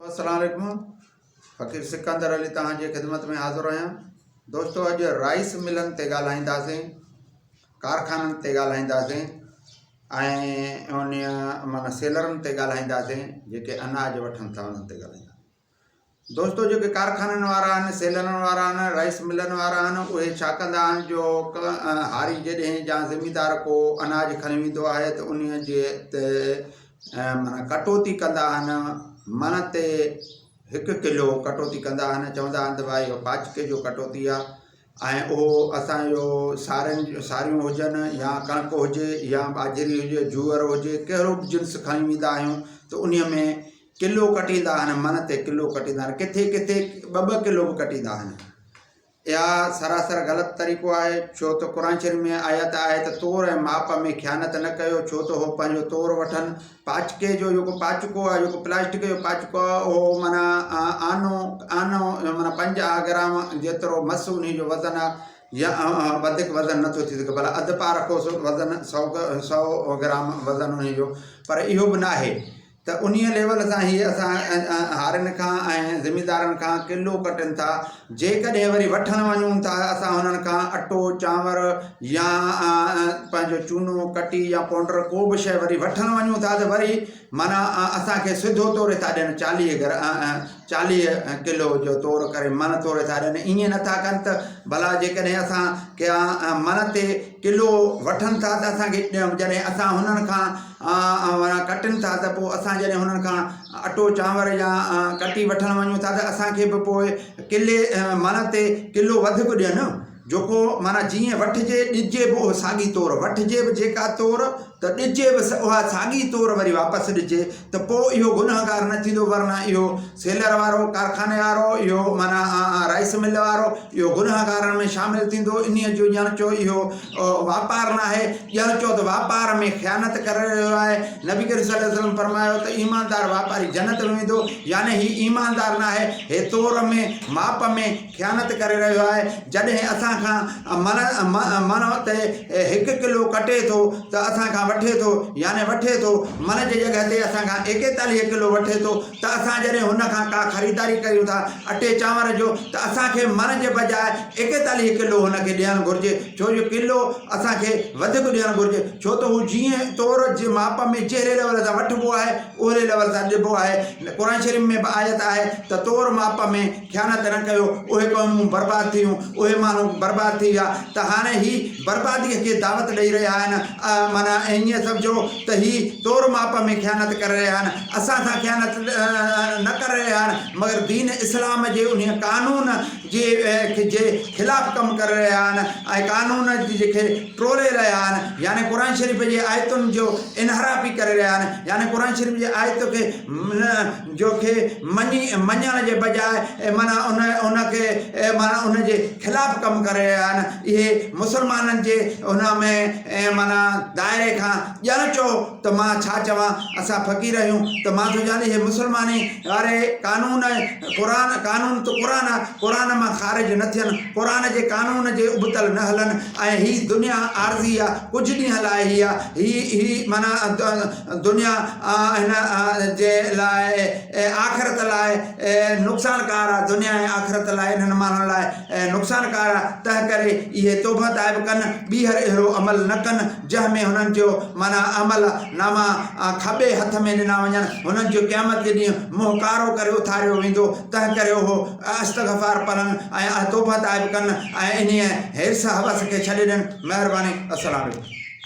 السلام عليڪم فقير سڪندر علي توهان جي خدمت ۾ حاضر آهيان دوستو اڄ رائس ملن تي ڳالهائينداسين ڪارخانن تي ڳالهائينداسين ۽ ان معنی سيلرن تي ڳالهائينداسين جيڪي اناج وٺن ٿا انهن تي ڳالهائينداسين دوستو جيڪي ڪارخانن وارا آهن سيلرن وارا آهن رائس ملن وارا آهن اهي ڇا ڪندا آهن جو هاري جڏهن يا زميندار ڪو اناج کڻي ويندو آهي ته ان جي ۽ معنيٰ ڪٽوتي ڪندا آهن مڻ تي هڪ ڪلو ڪٽوتي ڪندا آهن چوندا آهن ته ڀائي اهو پاچڪي جو ڪٽوتي آ ۽ اهو اسان جو سارن ساريون هجن يا ڪڻڪ هجي يا ٻاجهري هجي جوئر هجي ڪهڙو به جنس کڻي ويندا آهيون ته انهيء ۾ ڪلو ڪٽيندا آهن مڻ تي ڪلو ڪٽيندا آهن ڪٿي ڪٿي ٻه ٻه ڪلو به ڪٽيندا آهن اها سراسر غلط طريقو آهي، ڇو ته قرآن شريف ۾ آيت آهي ته تور ۽ ماپ ۾ خيانت نه ڪيو، ڇو ته هو پنهنجو تور وٺن، پاچڪي جو جيڪو پاچڪو آهي، جيڪو پلاسٽڪ جو پاچڪو آهي، اهو معنيٰ آنو، آنو معنيٰ پنجاهه گرام جيترو مس انهي جو وزن آهي، يا وڌيڪ وزن نه ٿو ٿي سگهي، ڀلا اڌ پاء رکوس وزن سؤ، سؤ گرام وزن انهي جو، پر اهو به ناهي. ته انهيء ليول سان هي اسان هارين کان ۽ زميندارن کان ڪلو ڪٽن ٿا جيڪڏهن وري وٺڻ وڃون ٿا اسان هنن کان اٽو چانور يا پنهنجو چونو ڪٽي يا پونڊر ڪو به شيء وري وٺڻ وڃون ٿا ته وري معنيٰ اسانکي سڌو توري ٿا ڏين چاليهه گھر چاليهه ڪلو جو تور ڪري من توري ٿا ڏين ائين نٿا ڪن ته ڀلا جيڪڏهن اسان ڪيا من تي ڪلو وٺن ٿا ته اسانکي ڏيڻ جڏهن اسان هنن کان وارا ڪٽن ٿا ته پوء اسان جڏهن انهن کان اٽو چانور يا ڪٽي وٺڻ وڃون ٿا ته اسان کي به پوء ڪلي مانا تي ڪلو وڌ به ڏين جوڪو مانا جيئن وٺجي ڏجي به اهو ساڳي طور وٺجي به جيڪا طور ته ڏجي به اها ساڳي طور وري واپس ڏجي ته پوء اهو گنهگار نه ٿيندو ورنه اهو سيلر وارو، ڪارخاني وارو، اهو معنيٰ رائيس مل وارو، اهو گنهگارن ۾ شامل ٿيندو. انهيء جو ڄڻ چو اهو واپار ناهي، ڄڻ چو ته واپار ۾ خيانت ڪري رهيو آهي. نبي ڪريم صلي وسلم فرمايو ته ايماندار واپاري جنت ۾ ويندو، يعني هي ايماندار ناهي، هي تور ۾، ماپ ۾، خيانت ڪري رهيو آهي. جڏهن اسان کان مڻ، مڻ، تي هڪ ڪلو ڪٽي ٿو ته اسان کان وٺي ٿو، يعني وٺي ٿو، مڻ جي جڳهه تي اسان کان ايڪيتاليهه ڪلو وٺي ٿو، ته اسان جڏهن هن کان ڪا خريداري ڪريون ٿا اٽي چانور جو ته اسان کي مڻ جي بجاء ايڪيتاليهه ڪلو هن کي ڏيڻ گهرجي ڇو جو ڪلو اسان کي وڌيڪ ڏيڻ گهرجي ڇو ته هو جيئن طور جي ماپ ۾ جهڙي ليول سان وٺبو آهي اهڙي ليول سان ڏبو آهي قرآن شريف ۾ به آيت آهي ته طور ماپ ۾ خيانت نه ڪيو اهي قومون برباد ٿيون اهي ماڻهو برباد ٿي ويا ته هاڻي هي برباديء کي دعوت ڏئي رهيا آهن معنيٰ ائين سمجهو ته هي تور ماپ ۾ خيانت ڪري رهيا آهن اسان سان خيانت نه ڪري رهيا آهن مگر دين اسلام جي انهي قانون جي جي خلاف ڪم ڪري رهيا آهن ۽ قانون جي کي ٽوڙي رهيا آهن يعني قرآن شريف جي آيتن جو انحرافي ڪري رهيا آهن يعني قرآن شريف جي آيت کي جو کي مڃي مڃڻ جي بجاء معنيٰ ان ان کي معنيٰ ان جي خلاف ڪم ڪري رهيا آهن اهي مسلمانن جي ان ۾ معنيٰ دائري کان ڄڻ چئو ته مان ڇا چوان اسان فقير آهيون ته مان ٿو چوان اهي مسلماني واري قانون قرآن قانون ته قرآن آهي قرآن مان خارج نه ٿين قرآن جي قانون جي ابتل نه هلن ۽ هي دنيا عارضي آهي ڪجهه ڏينهن لاء هي آهي هي هي معنيٰ دنيا ۽ ان جي لاء آخرت لاء نقصانڪار آ، دنيا ۽ آخرت لاء انهن ماڻهن لاء نقصانڪار آ، تنهنڪري اهي توبهه تائب ڪن، ٻيهر اهڙو عمل نه ڪن، جنهن ۾ هنن جو، معنيٰ عمل ناما، کٻي هٿ ۾ ڏنا وڃن، هنن جو قيامت جي ڏينهن منهن ڪارو ڪري اٿاريو ويندو، تنهنڪري اهو استغفار پڙهن ۽ توبهه تائب ڪن ۽ انهيء حرص، هوس، کي ڇڏي ڏين. مهرباني. السلام عليڪم.